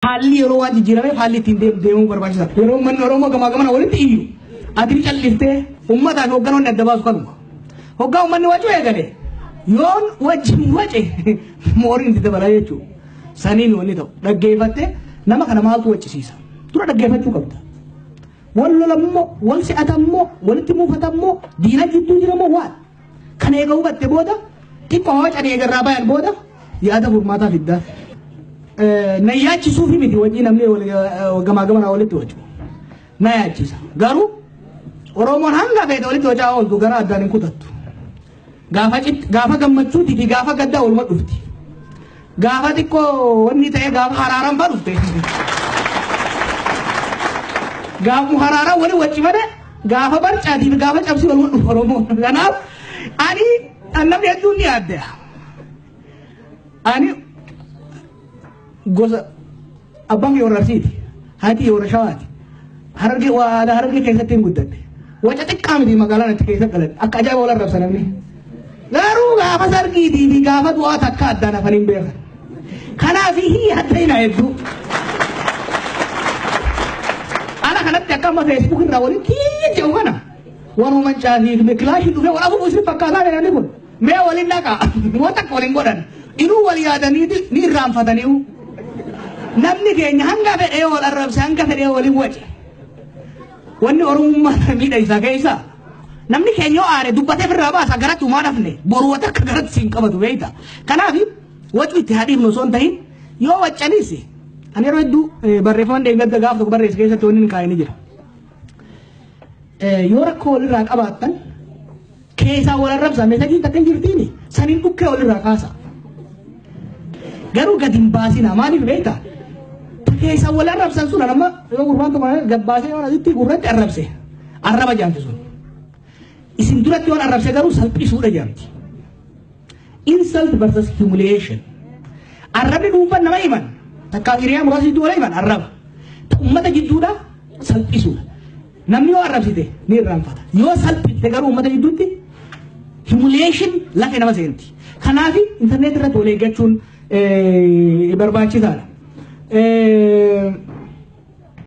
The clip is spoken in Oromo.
Haalli yeroo waan jijjiirameef haalli ittiin deemu deemuu barbaachisa. Yeroo uummanni Oromoo gamaa gamana walitti iyyu adii calliftee uummataa fi hoogganoonni adda baasu kanuma. Hoggaa uummanni wacuu eegale yoon wajjin wace mooriin itti dabala jechuudha. Saniin wanni ta'u dhaggeeffattee nama kana maaltu waccisiisa. Dura dhaggeeffachuu qabda. Wal lolammoo, wal si'atammoo, walitti muufatammoo, diina jidduu jiramoo waan. Kana eega hubatte booda xiqqoo hawaca eega irraa bayan booda yaada furmaataa fiddaa. Na yaachisuufi miti wanni namni gamaa gamanaa walitti wacu. Na yaachisa. Garuu Oromoon hanga feete walitti wacaa ooltu gara addaan hin kutattu. Gaafa gammachuu fi gaafa gaddaa waluma dhufti. Gaafa xiqqoo wanni ta'ee gaafa haraaran fa dhufte. Gaafa haraaran wali wacci male gaafa barcaatii fi gaafa cabsii wal dhufu Oromoo. Kanaaf ani an namni hedduun ni yaadda. Ani gosa Abbaan kiyya warra Arsiiti. Haati kiyya warra Shawaati. Harargee waa aadaa Harargee keessatti hin guddadhe. Waca xiqqaa miti magaalaan itti keessa galan. Akka ajaa'iba wal arrabsa namni. Garuu gaafa sargiitii fi gaafa du'aa takka addaan hafan hin beekan. Kanaaf hii adda hin hedduu. Ana kanatti akka amma feesbuuk irraa waliin kiyya jedhu kana. Wanuman caafii kilaashii dhufee wal afuuf isin fakkaataa jedhanii kun. Mee wal hin dhaqaa. Waan takka wal hin godhan. Inuu wal yaadanii ni irraanfataniiru. Namni keenya hanga fedhee wal arrabse hanga fedhee waliin wace. Wanni Oromummaa miidha isaa keessa. Namni keenya yoo aare dubbatee firraa baasa garatti umaa dhafne boruu wata akka garatti siin qabatu beeyta. Kanaaf wacu itti haadhiifnu osoo hin tahin yoo waccanis ani yeroo hedduu eh, barreeffaman deeggadda gaaf tokko barreesse keessatti wanni hin kaa'e ni jira. Eh, Yoo rakkoo walirraa qabaattan keessaa wal arrabsa mesajiin takka hin jirtiini saniin dhukkee walirraa kaasa garuu gad hin baasina maaliif beekta ta keessaa wal arrabsan sun amma yoo gurbaan tokko gad baasee waan asitti gurratti arrabse arraba jaamti sun isin duratti waan arrabse garuu salphisuudha jaamti insult versus humiliation arrabni dhuunfan nama himan takkaa hiriyaa muraasa jidduu wala himan arraba ta ummata jidduudha salphisuudha Namni yoo arrabsite ni irraanfata. Yoo salphifte garuu uummata gidduutti humiliation lafee nama seenti. Kanaaf intarneetii irratti wal eeggachuun eh, barbaachisaadha. Eh,